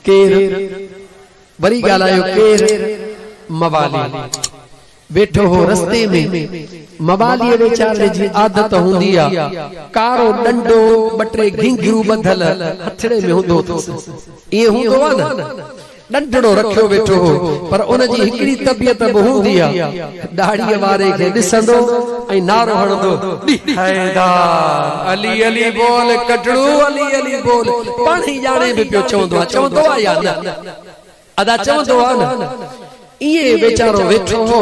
ڪير وري ڳالهايو ڪير موالي ويٺو هو رستي ۾، مواليء ويچاري جي عادت هوندي آ، ڪارو ڏنڊو ٻه ٽي گهينگهيون ٻڌل هٿڙي ۾ هوندو اٿس، ائين هوندو آ نه، ڏنڊڙو رکيو ويٺو هو، پر ان جي هڪڙي طبيعت به هوندي آ، ڏاڙهيء واري کي ڏسندو ۽ نعرو هڻندو، ڏي حيدار! علي علي بول ڪٽڙو علي علي بول! پاڻ هي ڄاڻي به پيو چوندو آ، چوندو آ يا نه؟ ادا چوندو آ نه! ائين ويچارو ويٺو هو،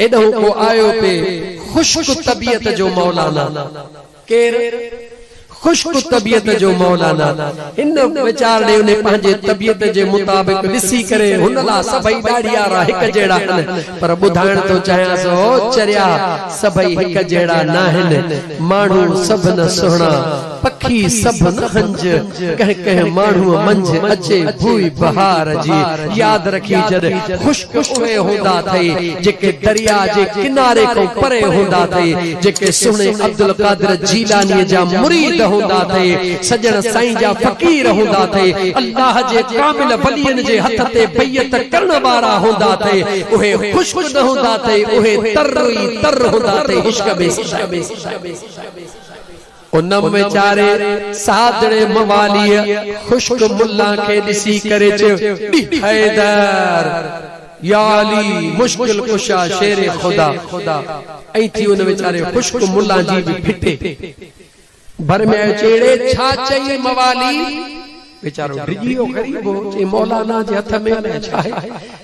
ايڏهون ڪو آيو پئي، خشڪ طبيعت جو مولانا! ڪير خشڪ طبيعت جو مولانا هن ويچارڙي ني پنهنجي طبيعت جي مطابق ڏسي ڪري هن لا سڀئي ڏاڙهيارا هڪ جهڙا هن پر ٻڌائڻ ٿو چاهيان سو چريا سڀئي هڪ جهڙا ناهن ماڻهو سڀ نه سهڻا پکي سڀ نه هنج ڪنهن ڪنهن ماڻهوء منجهه اچي ڀوئي بهار جي ياد رکي جڏ خشڪ اهي هوندا اٿئي جيڪي درياء جي ڪناري کان پري هوندا اٿئي جيڪي سهڻي عبدالقادر جيلانيء جا مريد هوندا اٿئي سڄڻ سائين جا فقير هوندا اٿئي الله جي ڪامل ولين جي هٿ تي بيعت ڪرڻ وارا هوندا اٿئي اهي خشڪ نه هوندا اٿئي اهي تر ئي تر هوندا اٿئي عشق ۾ سدائين ان ويچاري سادڙي مواليء خشڪ ملا کي ڏسي ڪري چيو، ڙي حيدر! يا علي مشڪل ڪشا شير خدا! ائين ٿي ان ويچاري خشڪ ملا جي به ڦٽي ڀر ۾ آيو چي، ڙي ڇا چئي موالي! ويچارو ڊڄي ويو غريب هو چئي مولانا جي هٿ ۾ نه ڇاهي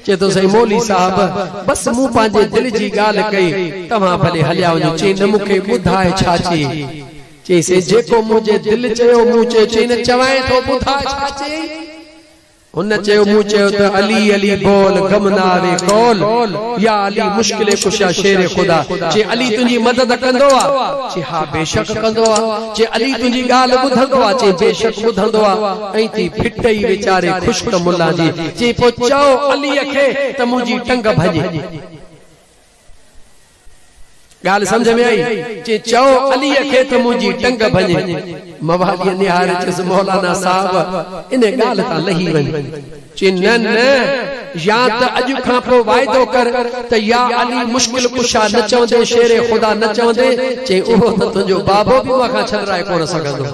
چئي ٿو سائين مولي صاحب بس مون پنهنجي دل جي ڳالهه ڪئي توهان ڀلي هليا وڃو چئي نه مون کي ٻڌاء ڇا چئي چئي سائين جيڪو منهنجي دل چيو مون چيو چئي نه چوانء ٿو ٻڌاء ڇا چيئي هن چيو مون چيو ته علي علي بول غم نه آوي قول يا علي مشڪل ڪشا شير خدا چئي علي تنهنجي مدد ڪندو آ چئي ها بيشڪ ڪندو آ چي علي تنهنجي ڳالهه ٻڌندو آ؟ چي بيشڪ ٻڌندو آ. ائين ٿي ڦٽ ئي ويچاري خشڪ ملا جي. چي پوء چئو علي کي ته منهنجي ٽنگ ڀڃي. ڳالهه سمجهه ۾ آئي؟ چي چئو علي کي ته منهنجي ٽنگ ڀڃي. مواليء نهاري چيس مولانا صاحب انهي ڳالهه تان لهي وڃ. چي نه نه يا ته اڄ کان پوء واعدو ڪر ته يا علي مشڪل ڪشا نه چوندين شير خدا نه چوندين چئين اهو ته تنهنجو بابو به مان کان ڇڏرائي ڪونه سگهندو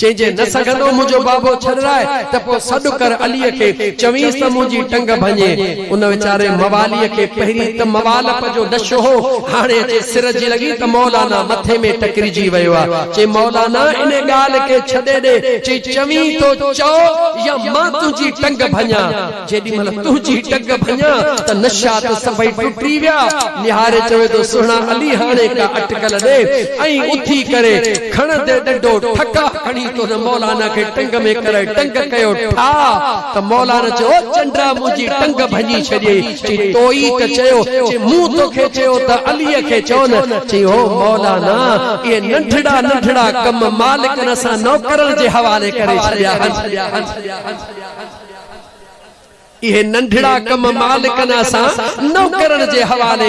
چئين جي نه سگهندو منهنجو بابو ڇڏرائي ته پوء سڏ ڪر علي کي چوينس ته منهنجي ٽنگ ڀڃي ان ويچاري موالي کي پهرين ته موالپ جو نشو هو هاڻي اچي سر جي لڳي ته مولانا مٿي ۾ ٽڪرجي ويو آهي چئين مولانا ان ڳالهه کي ڇڏي ڏي چئين چوين ٿو چئو يا مان تنهنجي ٽنگ ڀڃان، جيڏي مهل تنهنجي ٽنگ ڀڃان ته نشات سڀئي ٽٽي ويا، نهاري چوي ٿو سهڻا علي هاڻي ڪا اٽڪل ڏي ۽ اٿي ڪري کڻندي ڏنڊو ٺڪاء کڻي تو نه مولانا کي ٽنگ ۾ ڪري ٽنگ ڪيو ٺاهه ته مولانا چئي او چنڊا منهنجي ٽنگ ڀڃي ڇڏيئي چيائين، توئي ته چيو. چيائين، مون توکي چيو ته عليء کي چئو نه. چيائين، هو مولانا، اهي ننڍڙا ننڍڙا ڪم مالڪن اسان نوڪرن جي حوالي ڪري ڇڏيا آهن. اهي ننڍڙا ڪم مالڪن اسان نوڪرن جي حوالي